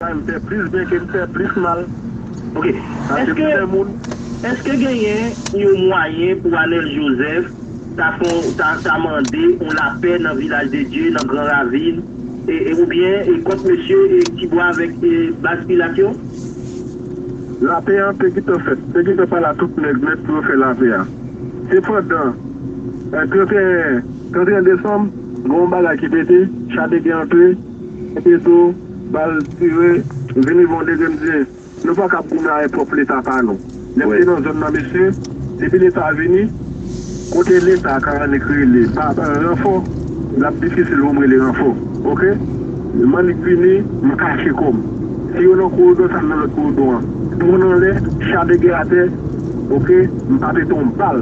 Sa m fè plis byen ke m fè plis mal. Ok. Sa se pou fè moun. Eske genyen yon mwayen pou Anel Joseph ta fè yon ta ta mande yon lapè nan Vilaj de Dye nan gran ravin e oubyen e kont mesye e Tibwa avèk e baz Pilat yo? Lapè an te gentan fèt, te gentan pala tout nèg nèt pou yo fè lapè a. Sepandan, 31 desanm, gen yon bagay ki pete, Chadege antre, pete do, bal tire, vini gen yon degre m di, nou pa kab goumen avèk pwòp Leta pa nou. Lè m te nan zòn nan mesye, depi Leta vini, Kote leta ka annik rele baban ranfò lap difisil poum rele ranfò ok m annik vini m kache kòm si yo nan korodon sa m nan lòt korodon an dwon anlè cha de gè atè ok m pa pete yon bal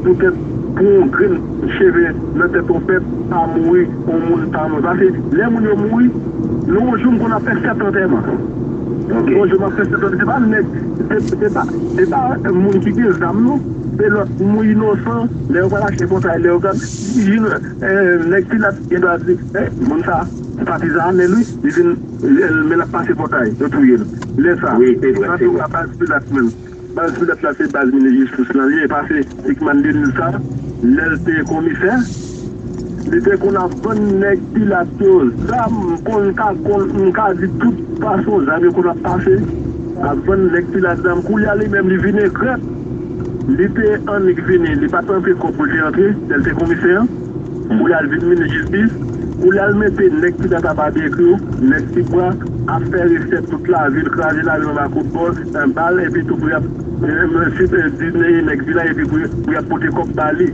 poutèt pou yon grenn cheve nan tèt yon pèp pa mouri yon moun pa mouri pase lè moun yo mouri nan yon jou m konn ap fè 7 antèman yon jou map fè 7 antèman se pa nèg se pa moun ki gen zam non. Se lòt mou inosan lè yo pral achte kontra elèogan si nèg pilat gen dwa di moun sa patizan anèl wi li vin men lap pase pòtay yo touyel lè sa antou ka baz pilat menm baz pilat la se baz minis jistis lan li e pa se sikman denil sa lèl te komisè. Li te konn ap vann nèg pilat yo zam konn ka konn m ka di tout fason zam yo konn ap pase ap vann nèg pilat zam koulye a li menm li vin egrèt li te annik vini li pat antre kòb pou l te antre lè l te komisè an koulye a l vin minis jistis koulye a l mete nèg pilat a babyekyou nèg ti bwa ap fè resèt tout lavi l kraze lari anba kout bòs bal epitou pou y ap di nèg di la epi pou y ap pote kòb ba li.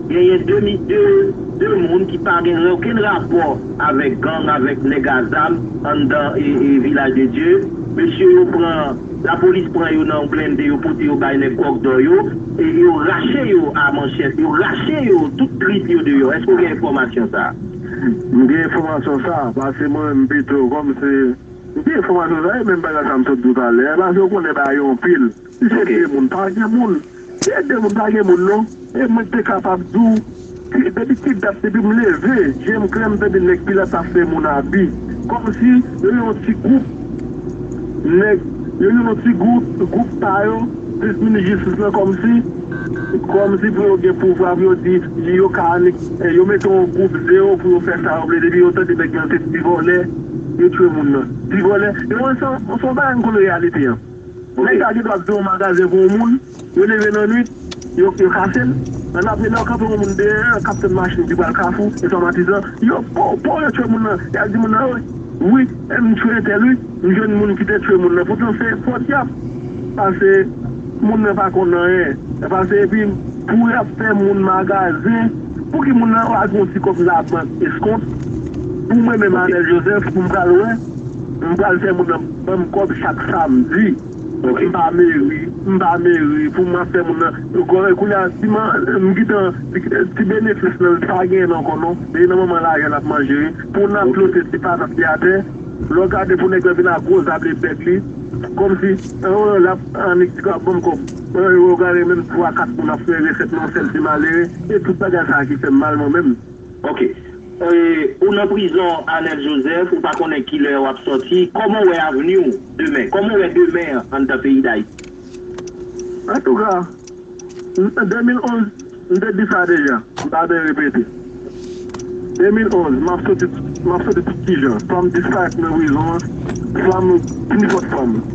Genyen 2 mi 2 2 moun ki pa gen okenn rapò avèk gang avèk nèg a zam anndan e vilaj de Dye. Mesye yo pran lapolis pran yo nan yon blende yo pote yo bay nèg kòk dò yo e yo rache yo a manchèt yo rache yo tout trip yo deyò. Èske ou gen enfòmasyon sa a? M gen enfòmasyon sa a pase mwen menm pito kòm se m gen enfòmasyon sa a e menm bagay sa a m sot di w talè a pase ou konnen bagay yo anpil. Si se 2 moun pa gen moun, si se 2 moun pa gen moun non, e mwen te kapab di w ki depi ki dat depi m leve je m klè m tande nèg pilat ap fè moun abi kòm si yo yon ti gwoup nèg yo yon ti gwoup gwoup pa yo plis minis jistis lan kòm si kòm si pou yo gen pouvwa pou yo di yo ka anik yo mete yon gwoup zero pou yo fè sa yo vle depi yo tande nèg lan se ti vòlè yo tchwe moun nan ti vòlè yo wè se yon se yon bagay m konn reyalite an. Nèg sa gen dwa kite yon magazen pou yon moun, yo leve nan nwit, yo kase l, nan apre lè yo kanpe yon moun deyè, kaptenn machin ki pral kafou, enfòmatizan, yo pow pow yo tchwe moun nan, yal di moun nan wi, wi m tchwe entèl wi, m jwenn moun ki te tchwe moun nan, poutan se fot yap pase moun nan pa konn anyen, yap pase epi pou yap fè moun magazen, pouki moun nan pa gon ti kòb labank eskont pou mwen menm Anèl Jozèf pou m pral wè, m pral fè moun nan. Banm kob chak samedi. Ok m pa meri m pa meri pou m ap fè moun nan nou konnen kounye a ti man m gitan ti benefis nan l li pa genyen l ankò non li nan manman lajan l ap manje pou nan plote ti patat li atè lè w gade pou nèg lan vin ak gwo zab li bèk li kòmsi an l ap annik ti ap banm kòb ou gade menm 3 4 moun ap fè resèt nan yon sèl ti malere e tout bagay sa ki fè m mal mwen menm. Ok ou nan prizon Arnel Joseph ou pa konnen kilè wap sòti kòman ou wè avni ou demen kòman ou wè demen an anndan peyi dayiti? Antouka an 2011 m te di sa deja m pa byen repete 2011 map sòti map sòti tout kijan swa m disparèt nan prizon an swa m pi fò t fò m.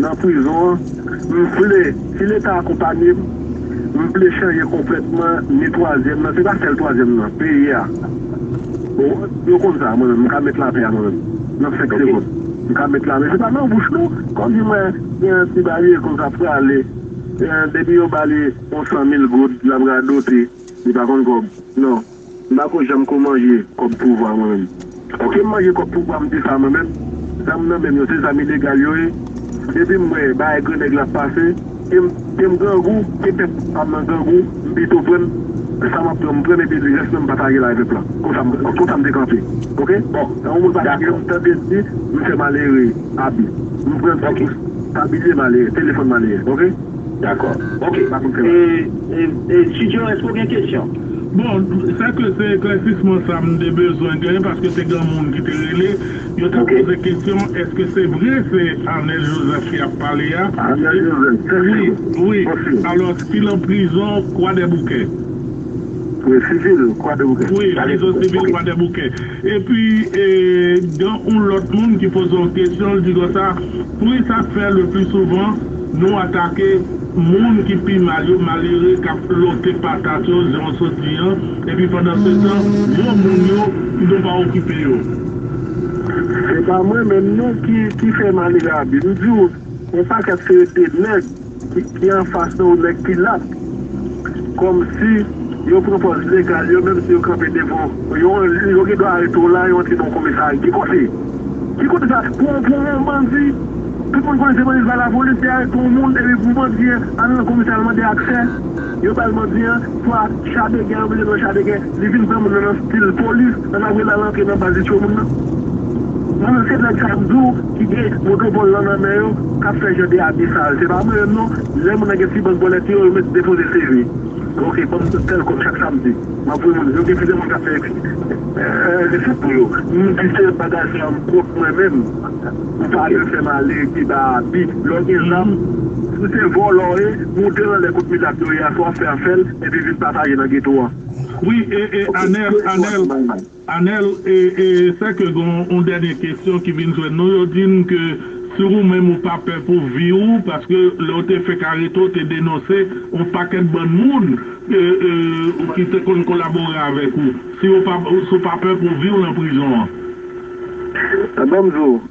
Nan prizon an, m vle, si leta akonpanye m, m vle chanje konplètman ni twazyèm nan, se pa sèl twazyèm nan, peyi a. Yo konn sa, mwen menm, m ka met lapè a mwen menm, nan 5 segond. M ka met lapè, se pa nan bouch non, kòmsi mwen gen yon ti bagay konsa ap prale, depi yo ba li yon 100 mil goud, l ap radote, li pa konn kòb, non. M pako janm ko manje kòb pouvwa mwen menm. Ok m manje kòb pouvwa m di sa mwen menm. Zam nan menm yo se zam ilegal yo ye. Depi m wè bagay grannèg la ap pase e m e m grangou e pèp pa m nan grangou m pito pran m sa m ap pran m pran m epi rès lan m patajel avè pèp la. Konsa m konsa m te kanpe ok bon tan yon moun pa tande m tande l di m fè malere abi m pran ti bous tabilye malere telefòn malere ok. Dakò ok e e e studio èske w gen kesyon? Bon, sa ke se eklèsisman sa m te bezwen gen paske te gen moun ki te rele, yo ta poze kesyon eske se vre se Arnel Joseph ki ap pale a? Arnel Joseph, tèt cheve. Wi, wi. Alò, si l an prizon Kwadèboukè. Prizon sivil Kwadèboukè. Wi, prizon sivil Kwadèboukè. E pi gen yon lòt moun ki poze yon kesyon, l di konsa, Poukisa k fè le pli souvan nou atake. Moun ki pi mal yo malere k ap lòke patat yo jan w sot di an, epi pandansetan gwo moun yo kidon pa okipe yo. Se pa mwen menm non ki fè malere a bi. M di w yon pakèt se de nèg ki anfas de w, nèg ki lat. Kòmsi yo pran pòz legal yo menmsi yo kanpe devan w. Yo gen dwa arete w la, yo antre nan yon komisari. Ki kote? Ki kote sa pou on pran on bandi tout moun konnen se bandi sa la police te arete on moun epi pou bandi an al nan komisè al mande aksè yo bal bandi an swa cha de gè yo mete nan cha de gè li vin pran moun nan nan stil police nan ta vle lal antre nan baz li tchwe moun nan mwen menm se nèg sa yo mdi w ki gen moto vòl lan nan men yo kap fè jan de abi sa yo se pa mwen menm non lè moun nan gen ti bank bòlèt yo yo met depoze CV ok banm tèl kòb chak samdi. Mwen pou mwen, yo gen plizyè moun kap fè epi li sot pou yo. M di se bagay sa m kont mwen menm. Ou pa janm fè m ale keba abi. Lè w gen zam, si se vòlò w ye, moute anlè kot mizak yo ye a, si w ap fè a fè l, epi vin pataje nan geto an. Wi e e Anel, Anel. Anel, E sè ke gen yon dènye kesyon ki vin jwenn nou, yo di n ke si ou menm ou pa pè pou vi ou, paske lè ou te fenk arete ou te denonse yon pakèt bann moun ki te konn kolabore avèk ou, si ou pa pè pou vi w lan prizon an? Bon m di w,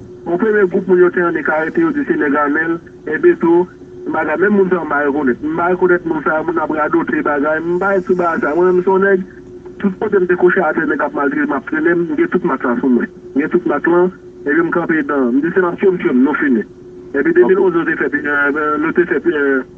Yon premye gwoup moun yo te annik arete yo di se nèg Amel, Ebeto, yon bagay menm moun sa yo m pa rekonèt. M pa rekonèt moun sa yo, moun ap radote bagay, m pa espri bagay sa. Mwen menm m se yon nèg, tout kote m te kouche atè nèg ap maltrete m ap trennen m, m gen tout mak sa sou mwen. M gen tout mak lan, epi m kanpe dan, m di se n ap tye m tye m, nou fini. Epi 2011 yo te fè, nou te fè.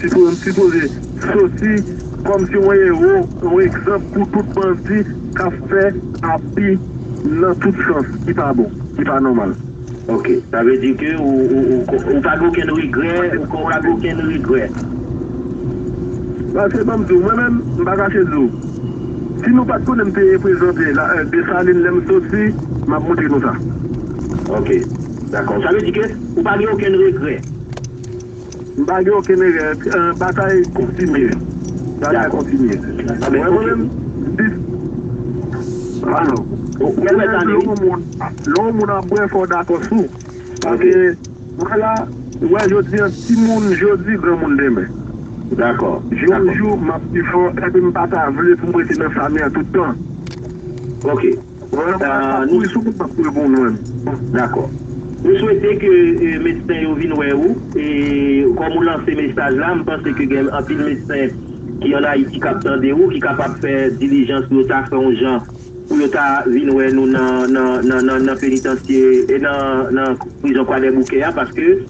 Sitwon sipoze soti komsi yon ero, yon egzanp pou tout bandi kap fè api nan tout sans ki pa bon, ki pa nomal. Ok, sa vle di ke ou pa gen okenn regrè, ou pa gen okenn regrè. Paske banm diw, mwen menm m pa kache diw, si nou pat konnen m te reprezante Desalin lèm soti, map montre nou sa. Ok, dakò. Sa vle di ke ou pa gen okenn regrè. M pa gen okenn erè. Batay kontinye. Batay kontinye. Ou wè mwen menm? Alò, ou wè lè yon moun ap bwè fò w dakò sou. Paske mwen la, ou wè jodi an, timoun jodi, granmoun demen. Dakò. Jou pou jou, m ap pi fò, epi m pa ta vle pou m rete nan fami an tout tan. Ok. Voye moun ak sak kouri sou moun map kouri pou mwen bon dakò. Nou swete ke medsen yo vin wè ou e kòm ou lanse mesaj la m panse ke gen anpil medsen ki an Ayiti kap tande ou ki kapab fè dilijans pou yo ta fè yon jan pou yo ta vin wè nou nan nan nan nan penitansye nan nan prizon kwadèboukè a paske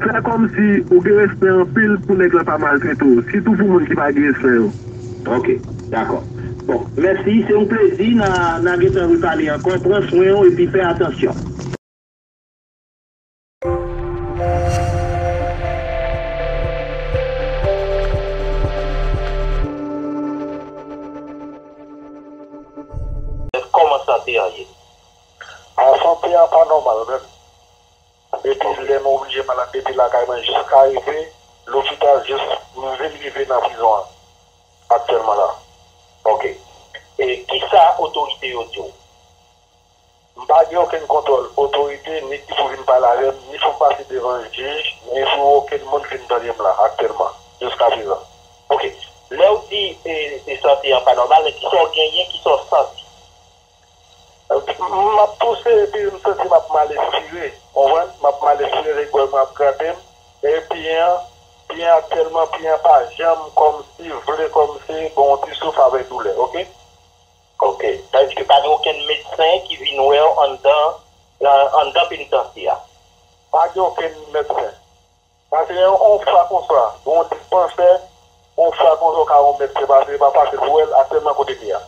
Fè komsi ou gen respè anpil pou nèg lan pa maltrete w, sitou pou moun ki pa gen respè yo. Ok, dakò. Bon, mèsi, se yon plezi, na, na gentan repale ankò, pran swen w epi fè atansyon. Kòman sante an ye? An sante an pa nòmal menm. Depi lè mwen oblije malad depi lakay mwen jiska rive lopital jis m vin rive nan prizon an aktyèlman la ok e kisa otorite yo diw m pa gen okenn kontwòl otorite ni ki pou vin pale avèm ni pou m pase devan jij ni pou okenn moun vin tande m la aktyèlman jiska prezan ok. Lèw di e sante an pa nòmal men kisaw genyen kisaw santi. M ap touse epi m santi m ap mal espire. Ou konprann? M ap mal espire se gòj mwen ap grate m. E pye an, pye an aktiyèlman pye an pa janm kòmsi vle kòmsi bon yon ti souf avèk doulè. Ok. Ok. Èske pa gen okenn medsen ki vin wè w anndan anndan penitansye a? Pa gen okenn medsen. Pase on fwa konsa pou on dispansè, on fwa konsa ou ka on medsen pase pa pase pou wèl aktyèlman kote li a.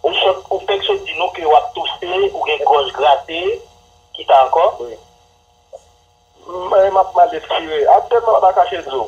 Ou sot ou fèk sot di nou ke wap touse ou gen gòj grate ki sa ankò? Mwen map mal espire aktyèlman pa kache di w.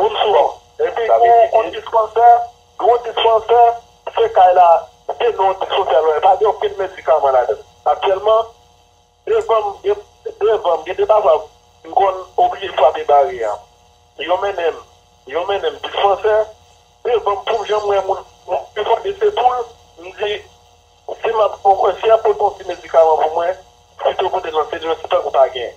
Bonswa epi pou on dispansè gro dispansè se kay la se non on dispansè lwen pa gen okenn medikaman ladann aktyèlman devanm gen devanm gen de bagay m konn oblije frape barye a yo mennenm yo mennenm dispansè devanm poum janm wè moun pi fò de se poul m di si map si yap pote on ti medikaman pou mwen pito pote nan se lwen se tankou pa gen.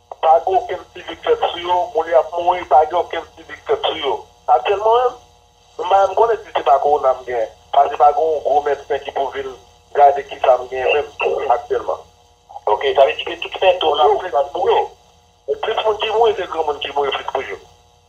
Pa gen okenn sivik fèt sou yo, moun yo ap mouri pa gen okenn sivik fèt sou yo. Aktyèlman menm, m pa menm konnen si se pa kowona m gen, pase pa gen yon gwo medsen ki pou vin gade kisa m gen menm aktyèlman. Ok, sa vle di ke tout sentom yo ou fè ti moun yo. Plis moun ki mouri se granmoun ki mouri plis toujou.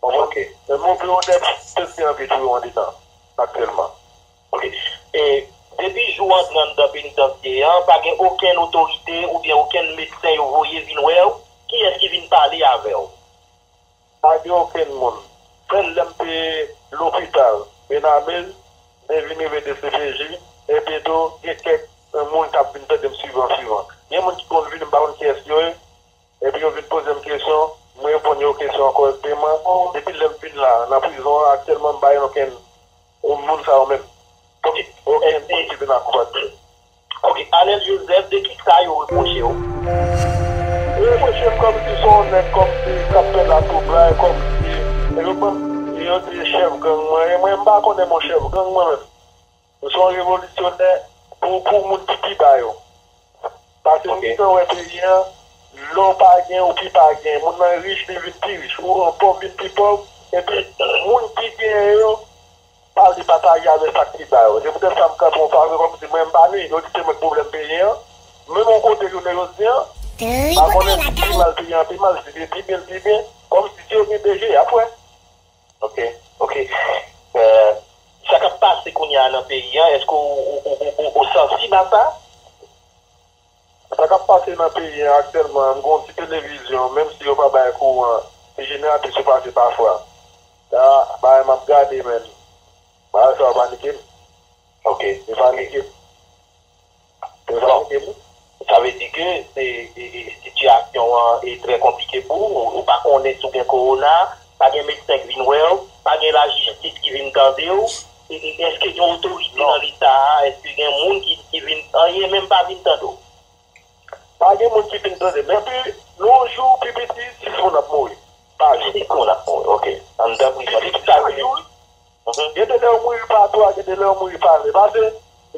Bon ok e move odè pske yo anvi touye w andedan aktyèlman ok e depi jou w antre anndan penitansye an pa gen okenn otorite oubyen okenn medsen yo voye vin wè w kiyès ki vin pale avè w? Pa gen okenn moun sèl lè m te lopital benamez m te vin rive dcpj epi tou gen kèk moun k ap vin tande m sivan sivan gen moun ki konn vini m pa konn kiyès yo ye. Epi yo vin poze m kesyon, m reponn yo kesyon an korèkteman. Depi lè m fin la, nan prizon an aktyèlman m pa gen okenn moun moun sa yo menm. Okenn moun ki vin akonpati. Ok, Anel Joseph, de ki sa yo repwoche w? Yo repwoche m kòmsi se yon nèg kòmsi k ap fè latwoublay, kòmsi yo ban m, yo di chèf gang mwen ye. Mwen m pa konnen bon chèf gang mwen menm. Ou se yon revolisyonè pou pou moun ki pi ba yo. Pase ou gentan wè peyi an, lè w pa gen ou pi pa gen. Moun nan rich li vin pi rich, ou an pòv vin pi pòv. Epi moun ki genyen yo pa vle pataje avè sa k pi ba yo. Se poutèt sa m kanpe yon fwa avè w kòm si mwen m pa ni yo ni se mwen k pwoblèm peyi an. Menm yon kote jounen jodi an, pa konnen si pi mal peyi an pi mal, si se pi byen l pi byen. Kòm si si yo gen de je y ap wè. Ok ok sa kap pase kounya nan peyi an eske ou sansib a sa? Sa kap pase nan peyi an aktyèlman m gen yon ti televizyon menm si yo pa bay kouran ti jeneratè sou pase pafwa sa bagay map gade men bagay sa yo panikem. Ok. Yo panikem. Prezidan, Sa vle di ke sitiyasyon an trè konplike pou ou? Ou pa konnen si w gen kowona, pa gen medsen k vin wè w, pa gen lajistis ki vin tande w? Èske gen otorite nan leta a, èske gen moun ki vin, anyen menm pa vin tande w? Pa gen moun ki vin tande m. Epi, yon jou pi piti 6 moun ap mouri pa jou. 6 moun ap mouri, ok. Ann dan prizon. Depi sa rive. Gen de lèw mouri pa dwa gen de lèw mouri pa vle pase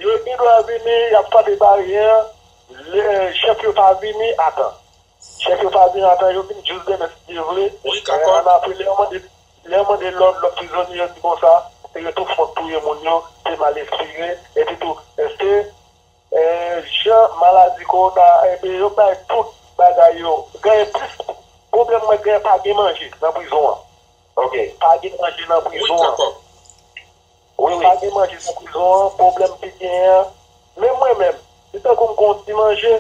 yo gnlwa vini yap frape barye an lè chèf yo pa vini atan chèf yo pa vini atan yo vini jous demen si Dye vle an apre lèw mande lèw mande lòd lòt prizonye yo di konsa se yo tou fòk touye moun yo se mal espire epi tou se jan maladi kowona ebe yo bay tout bagay yo genyen plis pwoblèm mwen genyen pa gen manje nan prizon an Ok pa gen manje nan prizon an. Wi pa gen manje nan prizon an pwoblèm ki genyen an menm mwen menm si tankou m gen yon ti manje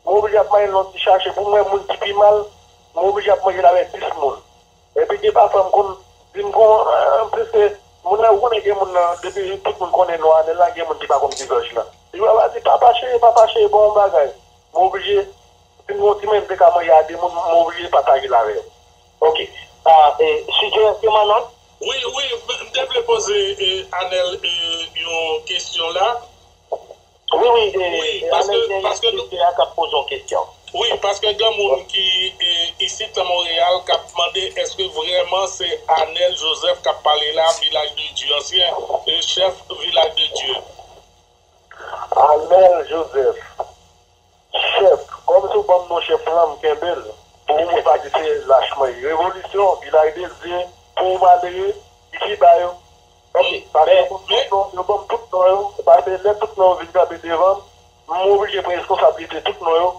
m oblije ap manyen l nan yon ti chache pou mwen moun ki pi mal m oblije ap manje l avèk 10 moun epi gen pafwa m konn di m konn an plis ke moun nan ou konnen gen moun nan depi tout moun konnen non anèl la gen moun ki pa konn di zòj lan li va va di papa cheri papa cheri ban m yon bagay m oblije si m gen yon ti manje m te ka manje a 2 moun m oblije pataje l avè yo. Ok suggestion manan. Wi wi m te vle poze anel yon kesyon la. Wi wi anel gen yon script la kap poze yon kesyon. Wi paske gen moun ki isit nan Montreal kap mande eske vreman se anel Joseph kap pale la vilaj de Dieu ansyen chef vilaj de Dieu. Anel Joseph. Chèf, kòm sou banm monchè plan m kenbel pou ou mwen pa di se lach mwen ye revolisyon vilaj dezdye pou ou malere ki fiba yo banm pase yo banm tout non yo banm tout non yo pase lè tout non yo vin kanpe devan m m oblije pran eskonsablite tout non yo.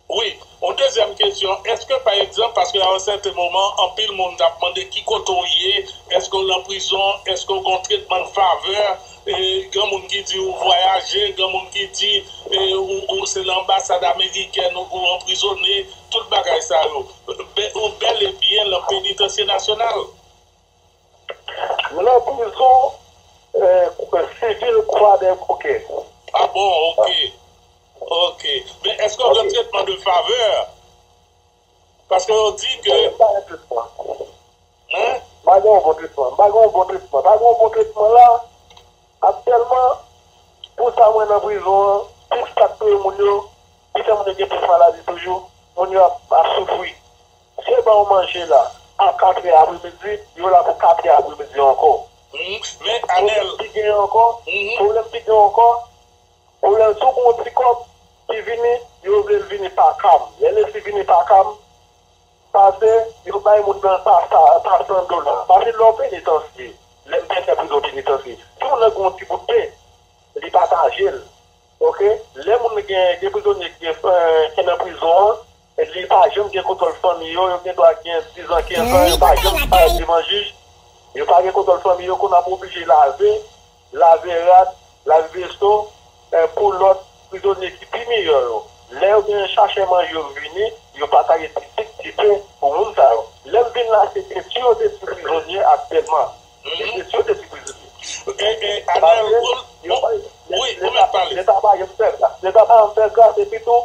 Wi, yon dezyèm kesyon èske pa egzanp paske a yon sèten moman anpil moun tap mande ki kote w ye èske w lan prizon èske w gon tretman favè Gen moun ki di ou vwayaje, gen moun ki di ou se nan anbasad amerikèn ou anprizone, tout bagay sa yo. Ou bèl e byen lan penitansye nasyonal. M lan prizon sivil Kwadèboukè. Ah bon ok. Ok. Men eske w gen tretman de favè? Paske yo di ke. Mwen pa gen tretman. Mwen. Pa gen yon bon tretman. M pa gen yon bon tretman. Pa gen yon bon tretman la. Aktyèlman, pou sa m wè nan prizon an, plis k ap touye moun yo, ki fè moun yo gen plis maladi toujou, moun yo ap soufri. Si yo ba ou manje la a katrè apremidi, yo la pou katrè apremidi ankò. Men, Anèl. Pwoblèm ki gen ankò. Pwoblèm ki gen ankò. Orèl tou gon ti kòb ki vini yo vlel vini pakam lè lesi vini pakam pase yo bay moun nan pa san dola pase lè w penitansye lè m te fè prizon penitansye si moun nan gon ti bout pen li patajel ok lè moun gen gen prizonye ki nan prizon an Epi yo pa janm gen kontwòl fanmi yo, yo gen dwa gen 10 an, 15 an, yo pa janm parèt devan jij, yo pa gen kontwòl fanmi yo, kounye a pou oblije lave, lave rad, lave veso, pou lòt prizonye ki pi miyò yo. Lè yo gen chachè manje yo vini, yo pataje ti sik, ti pen pou moun sa yo. Lè m vin la se detwi yo detwi prizonye aktyèlman. Se detwi yo detwi prizonye. Anel, wi, wi, ou mèt pale. Leta pa janm fè gras. Leta pa janm fè gras epi tou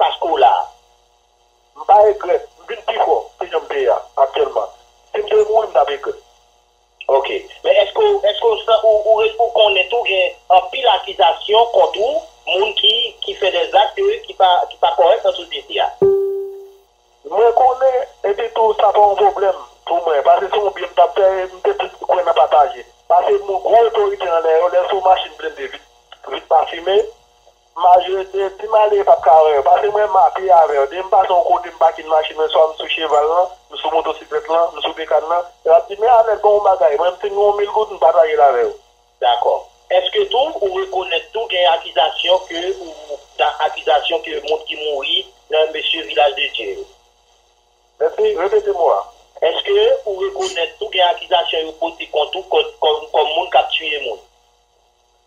Paske w la a. M pa egrèt, m vin pi fò ke jan m te ye a aktyèlman. Si m te mouri m t ap egrèt. Ok. Men èske w èske w san ou ou ou konnen tou gen anpil akizasyon kont ou, moun ki ki fè dè zak ke ki pa ki pa kòrèk nan sosyete a? Mwen konnen, epi tou sa pa yon pwoblèm pou mwen, pase se yon byen m t ap fè e m te plis kwè nan pataje. Pase moun gwo otorite anlè yo, lè se yon machin blende vit vit pa fimen, Maje di di m ale pap ka wè yo pase mwen ma pye avè yo di m pase yon kote m pake machin mwen swa m sou cheval lan m sou motosiklèt lan m sou bekàn lan e wap di m ya nèt gonw bagay mwen m fin gen yon mil goud m patajel avè yo. Dakò. Eske tou ou rekonèt tou gen akizasyon ke ou ta akizasyon ke moun ki mouri nan mesye vilaj de dye yo? Mèsi, repete mo a. Eske ou rekonèt tou gen akizasyon yo pote kont ou kòm moun kap tiye moun?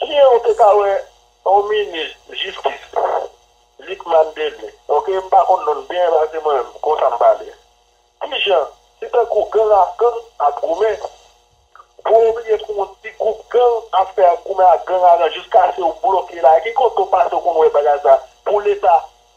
Kien ou te ka wè yon minis jistis Lucmane Dele ok m pa konn non l byen pase mwen menm konsa m pale kijan se tankou gang ak gang ap goumen pou ou bliye pou yon ti gwoup gang ap fè ak goumen ak gang aran jiskase ou bloke la ki kote ou pase ou konn wè bagay sa pou leta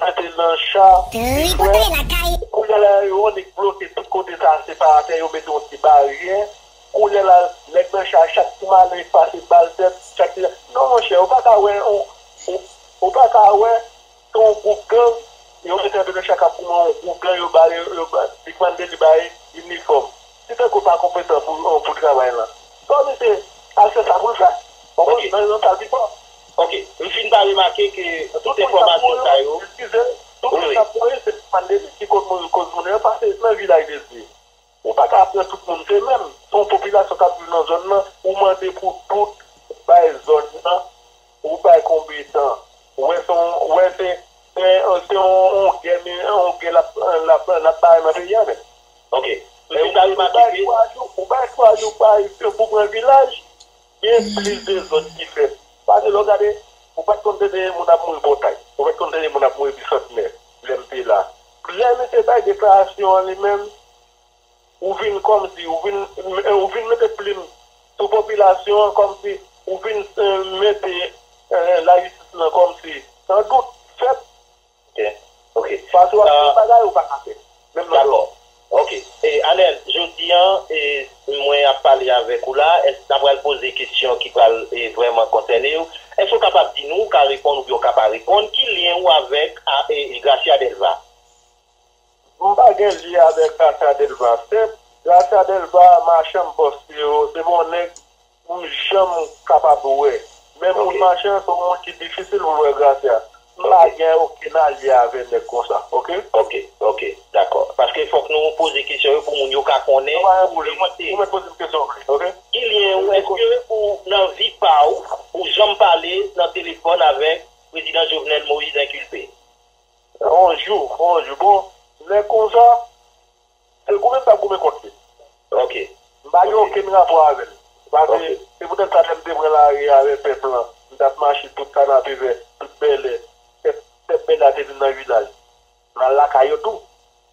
Mete nan cha ui frè. Kounye la yo annik bloke tout kote sa separatè yo mete yon ti baryè kounye la nèg nan cha chak ti malen pase bal tèt chak ti non monchè ou paka wè ou paka wè se yon gwoup gang yo mete anba nan cha kap goumen yon gwoup gang yo bare yo li kmande li bay inifòm. Si Tanko pa konpetan pou travay lan, fò misye al fè sa pou l fè. Konprann? Nan yon sal pi fò. Ok. M fin pa remake ke tout enfòmasyon sa yo. Eskize m. Tout moun k ap mouri se pa pandemi ki konn mouri koz moun yo pase nan vilaj de Dye. Ou pa ka pran tout moun se menm. Se yon popilasyon k ap viv nan zòn lan. Ou mande pou tout bay zòn lan. Ou bay konbe tan. Ou wè son wè se se yon gè mi yon gè lap lap lap bay nan peyi a menm. Ok lè ou bay twa jou ou bay twa jou bay pou pran vilaj gen plis dezòd ki fèt pase lè ou gade ou pat konn tande moun ap mouri pòtay ou pat konn tande moun ap mouri bisantnè lèm te la lè misye bay deklarasyon an li menm Ou vin kòmsi ou vin ou vin mete plim sou popilasyon an kòmsi ou vin mete lajistis lan kòmsi nan dout fèt paske wap di yon bagay ou paka fè menm nan dòmi. Ok Anel jodi an mwen ap pale avèk ou la èske ta pral poze kesyon ki pral vrèman konsène ou èske ou kapab di nou ou ka reponn oubyen ou ka pa reponn ki lyen ou avèk Gracia Delva? M pa gen lye avek Gracia Delva sèm. Gracia Delva machanm poste yo se bon nèg m janm kapab wè. Men moun machan se yon moun ki difisil pou wè Gracia. M pa gen okenn alye avè nèg konsa ok. Ok ok dakò paske fòk nou poze kesyon yo pou moun yo ka konnen. Sa pa yon pwoblèm ou mèt poze m kesyon vre ok. Gilyen ou eske ou nan vi pa ou ou janm pale nan telefòn avèk prezidan Jovenel Moïse inkilpe? Bonjou bonjou bon lè konsa se goumen kap goumen kont li ok m pa gen okenn rapò avèl pase se poutèt sa lèm te pran lari a avè pèp lan m tap mache tout kanapevè tout bèlè pèp bèlè a te vin nan vilaj mal lakay yo tou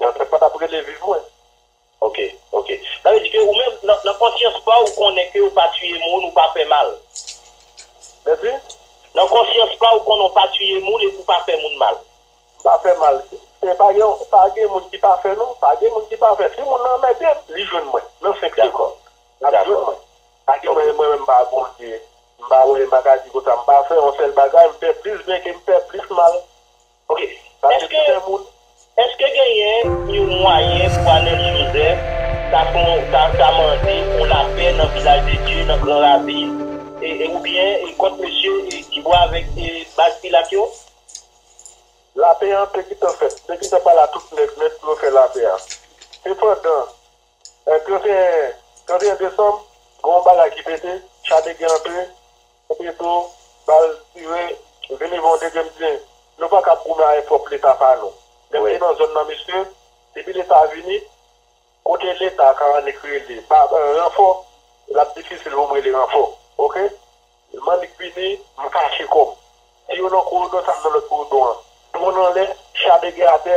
Yon trèt pa tap rele viv mwen. Ok ok sa vle di ke ou menm nan konsyans paw ou konnen ke ou pa tiye moun ou pa fè mal Mèsi? Nan konsyans paw ou konnen ou pa tiye moun epi ou pa fè moun mal. M pa fè mal e pa gen pa gen moun ki pafè non pa gen moun ki pafè si moun nan anmèdem li jwenn mwen nan 5 segond lap jwenn mwen pa gen mwen menm m pa Bondye m pa wè m pa ka di konsa m pa fè yon sèl bagay m fè plis byen kem fè plis mal. Ok sa se pou fè moun. Eske genyen yon mwayen pou Anel Joseph ta mande yon lapè nan vilaj de Dye nan gran ravin e oubyen kont mesye Kibo avèk baz pilat yo? Lapè an te gintan fèt, te gintan pala tout nèt nèt pou yo fè lapè a. Sepandan 31 desanm gen yon bagay ki pete, chadegè antre, Petro bal tire vini bon dege mdi nou pakab goumen ae prop leta pa nou lem te nan zon nan mesye depi leta vini kote leta ka annik rele pa ranfo lap difisil poum rele ranfo ok m annik vini m kache kom si yo nan korodon sa m nan lot korodon an dron anle cha dege ate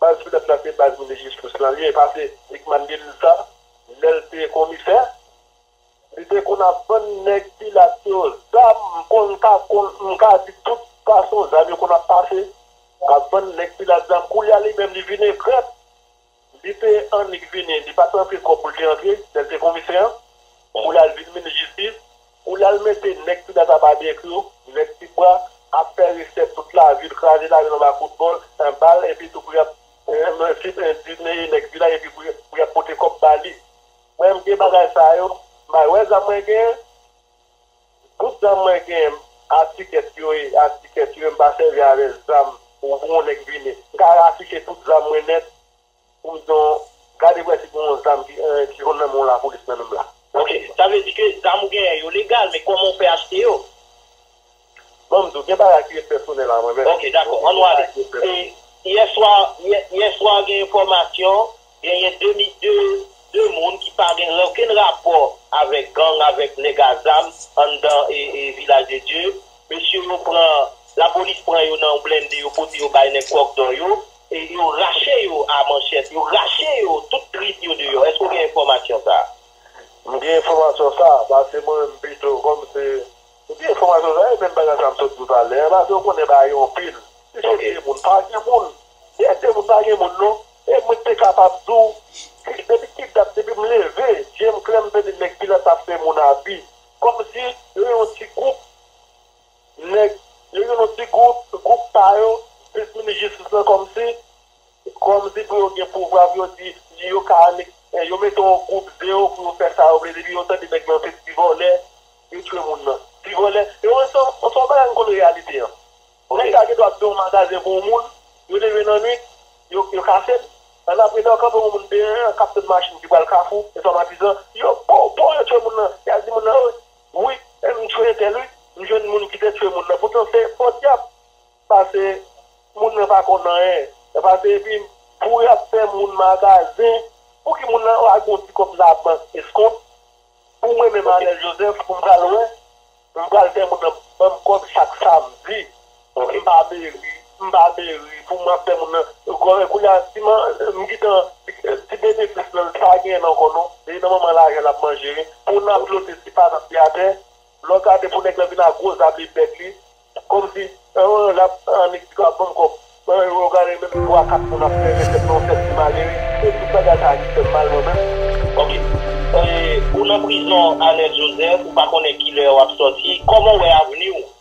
Baz pdep la se baz Minis Jistis lan li ye pase Rickman Delisle sa lèl te komisè li te konn ap vann nèg pilat yo zam m konn m ka konn m ka di tout fason zam yo konn ap pase ap vann nèg pilat zam koulye a li menm li vin egrèt li te annik vini li pat antre twòp pou l te antre lèl te komisè an pou lal vin Minis Jistis Ou lal mete nèg Trinidad Barbecue, nèg ti bwa, ap fè resèt tout lavi l, kraze lavi l anba kout bòl, an bal epi tou pou y ap endimeyi nèg vilaj epi pou y ap pote kòb ba li. Mwen m gen bagay sa yo, may wè zam mwen genyen, bout zam mwen genyen a tikèt yo ye, a tikèt yo ye, m pa sèvi avè zam pou yon nèg vini. M ka afiche tout zam mwen nèt. Ou don gade wè si gon zam ki ron nan menw la polis nan menm la. Ok sa vle di ke zam ou genyen yo legal men kòman ou fè achte yo. Banm diw gen bagay ki ret pèsonèl a mwen menm. Ok dakò annou ale e yè swa yè swa gen enfòmasyon genyen 2 mi 2 2 moun ki pa gen okenn rapò avèk gang avèk nèg a zam anndan e vilaj de Dye mesye yo pran lapolis pran yo nan yon blende yo pote yo bay nèg kòk dò yo Yo rache yo a manchèt, yo rache yo tout trip yo deyò. Èske ou gen enfòmasyon sa a? M gen enfòmasyon sa a, pase mwen menm pito kòm se m gen enfòmasyon sa a, e menm bagay sa a m sot di w talè a, pase ou konnen bagay yo anpil. Si se 2 moun, pa gen moun. Si se 2 moun, pa gen moun non. E mwen te kapab di w, depi ki dat, depi m leve, je m klè m tande nèg ki la t ap fè moun abi. Kòm si yo yon ti gwoup. Nèg yo gen yon ti gwoup, gwoup pa yo, plis minis jistis lan kòmsi, kòmsi pou yo gen pouvwa pou yo di yo ka annik, yo mete yon gwoup ze yo pou yo fè sa yo vle depi yo tande nèg lan se ti vòlè yo tchwe moun nan. Ti vòlè, e wè se yon bagay m konn reyalite an. Nèg sa gen dwa ap fè yon magazen pou yon moun, yo leve nan nwit, yo kase l, annapre lè yo kanpe yon moun deyò an k ap tann machin ki pral kafou, e sa matizan, yo pow pow yo tchwe moun nan, y al di moun nan, Wi m t tchwe tel wi m jwenn moun ki te tchwe moun nan poutan se fot yap pase moun nan pa konn anyen yap pase epi pou yap fè moun magazen pouki moun nan pa gon ti kob la bank eskont pou mwen menm Anel Joseph pou m pral wè m pral fè moun nan banm kob chak samdi. Bon m pa meri m pa meri pou mwen fè moun nan kounya si m gitan ti benefis lan li pa genyen l ankò non e nan manman lajan l ap manje wi pou n ap flote si pa n ap teatè lè w gade pou nèg lan vin ak gwo zam li bèk li kòmsi l ap annik di pa ban m kòb e w gade menm 3 4 moun ap sève tèt nan yon sèl ti malere se tout bagay sa a ki fè m mal mwen menm. Ok ou nan prizon Anel Joseph ou pa konnen kilè wap sòti kòman ou wè avni w.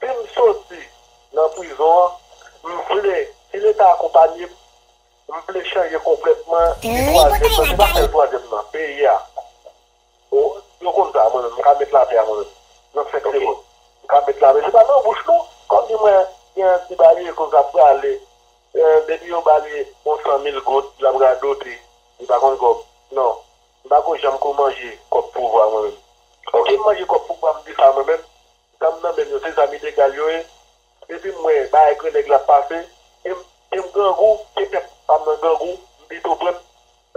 Si m soti nan prizon an, m vle, si Leta akonpanye m, m vle chanje konplètman li twazyèm nan, se pa sèl twazyèm nan, peyi a. Yo konn sa, mwen menm, m ka met lapè a mwen menm, nan senk segonn. M ka met lapè, se pa nan bouch non, kòm di mwen gen yon ti babye kouz ap prale, depi yo ba li yon san mil goud, l ap radote, li pa konn kòb. Non, m pa ko janm ko manje kòb pouvwa mwen menm. Oke m manje kòb pouvwa m di sa mwen menm. Zam nan menm yo se zam ilegal yo ye depi m wè bagay grenèg la ap pase em em grangou ke pèp pam nan grangou m pito pran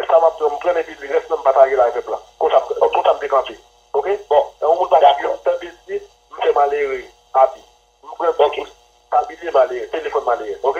sa map pran m pranl epi rès lan m patajel ak pèp la konsa m konsa m te kanpe ok bon lè yon moun pa sivim m tande l di m fè malere abi m pran ti kous pa bilye malere telefòn malere ok.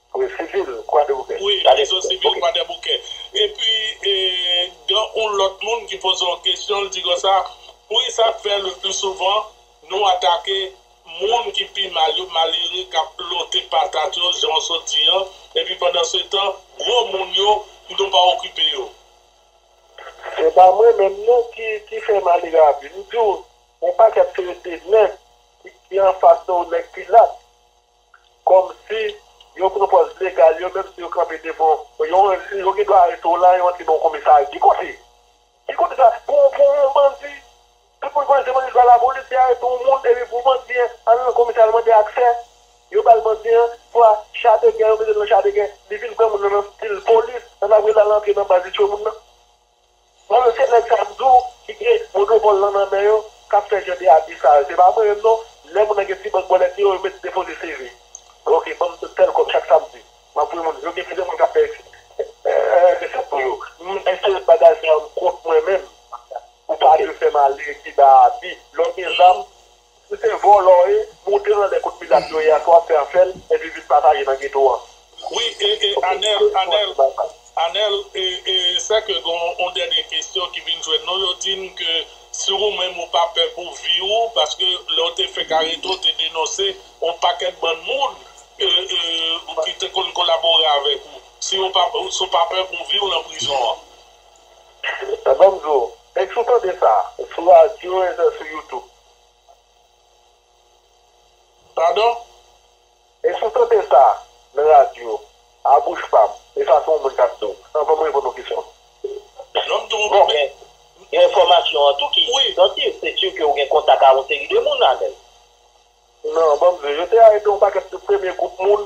Wi sivil kwadeboukè. Wi rezon sivil kwadeboukè. Epi gen yon lòt moun ki poze yon kesyon li di konsa wi sa k fè le pli souvan nou atake moun ki pi mal yo malere k ap lote patat yo jan w sot di an epi pandan se tan gwo moun yo nou pa okipe yo. Se pa mwen menm non ki fè malere a pi m di w yon pakèt se 2 nèg ki anfas ou nèg pilat. Kòmsi yo pran pòz legal yo menm si yo kanpe devan yon yo gen dwa arete w la yo antre nan yon komisarya ki kote? Ki kote sa pou pou yon bandi tout moun konnen se bandi se pa lapolis ki arete yon moun epi pou bandi an al nan komisarya al mande aksè yo ba l bandi an swa cha de gè yo mete l nan cha de gè li vin pran moun nan nan stil polis nan ap rele l al antre nan baz li tchwe moun nan. Bon mesye nèg sa m di w ki gen monopòl lan nan men yo kap fè jan de abi sa yo se pa mwen menm non lè moun nan gen ti bank bòlèt li yo yo met depoze CV ok banm tèl kòb chak samdi map voye moun yo gen plizyè moun kap fè eksept pou yo m enterese bagay sa yo m kont mwen menm ou pa dwe fè m ale kiba abi lè w gen zam Ou se vòlò e, moute anlè kot milat yo ye a swa fè afè l epi vin pataje nan geto an. Wi e e Anel Anel Anel e e sè ke gen yon dènye kesyon ki vin jwenn nou yo di n ke si ou menm ou pa pè pou vi ou paske lè ou te fèk arete ou te denonse yon pakèt bann moun e e ki te konn kolabore avèk ou si ou pa pè pou vi w nan prizon an. Banm di w, ex ou tande sa? Sou radyo e zè sou youtube. Padon? Ex ou tande sa nan radyo a bouch pa m e sa se yon moun kap di w. Anvan m reponn yon kesyon. Non m tou bon men gen enfòmasyon an tou ki sansiv se si ke ou gen kontak a yon seri de moun Amel. Non banm di w, yo te arete yon pakèt de premye gwoup moun.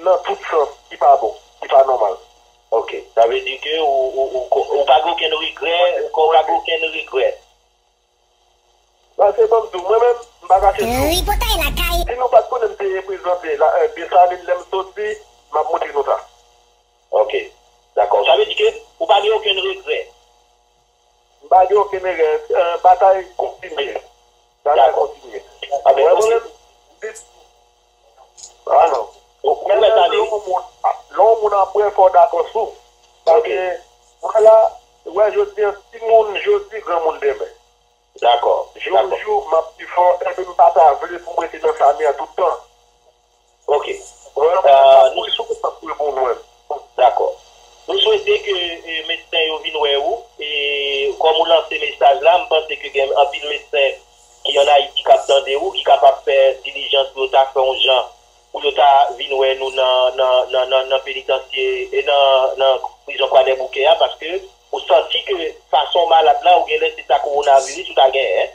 Nan tout sans ki pa bon, ki pa nòmal. Ok. Sa vle di ke ou pa gen okenn regrè, ou pa gen okenn regrè. Pase banm diw, mwen menm, m pa kache diw. Tripotay lakay. Si nou pat konnen m te reprezante Dessalines lè m soti, m ap montre nou sa. Ok. Dakò. Sa vle di ke ou pa gen okenn regrè. M pa gen okenn erè. Batay kontinye. Batay kontinye. Anben nou se. Ah non. Ou mèt ale. Lè yon moun apre fò w dakò sou. Paske wè la, wè jodi an ti moun jodi gran moun demen. Dakò. Jou jou m ap pi fò epi m pa ta vle pou m rete nan Samia tout tan. Ok Nou Dakò Nou swete ke medsen yo vin wè ou e kòm ou lanse mesaj la m panse ke gen anpil medsen ki an Ayiti kap tande ou ki kapab fè dilijans pou yo ta fè yon jan pou yo ta vin wè nou nan penitansye e nan prizon kwadèboukè a paske ou santi ke fason w malad la ou genlè se ta kowonaviris ou ta genyen.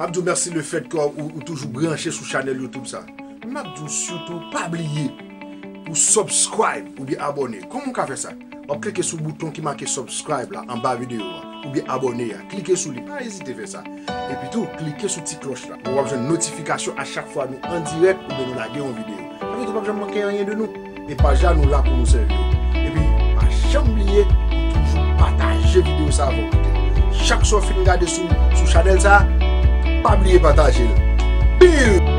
Map diw merci le fait que ou toujou branche sou chanel YouTube sa. Map diw surtout pa bliye pou subscribe oubyen abone. Koman ou ka fè sa? Wap klike sou bouton ki make subscribe la anba video a oubyen abone a. Klike sou li pa ezite fè sa. Epi tou klike sou ti cloche la pou wap jwenn notification a chak fwa nou andirèk oubyen nou lage yon video. Sa vle di ou pap janm manke anyen de nou. E paj la nou la pou nou sèvi yo. Epi pa janm bliye pou toujou pataje video sa avèk koute l. Chak sou fin gade sou sou chanèl sa pa bliye pataje l. Pil!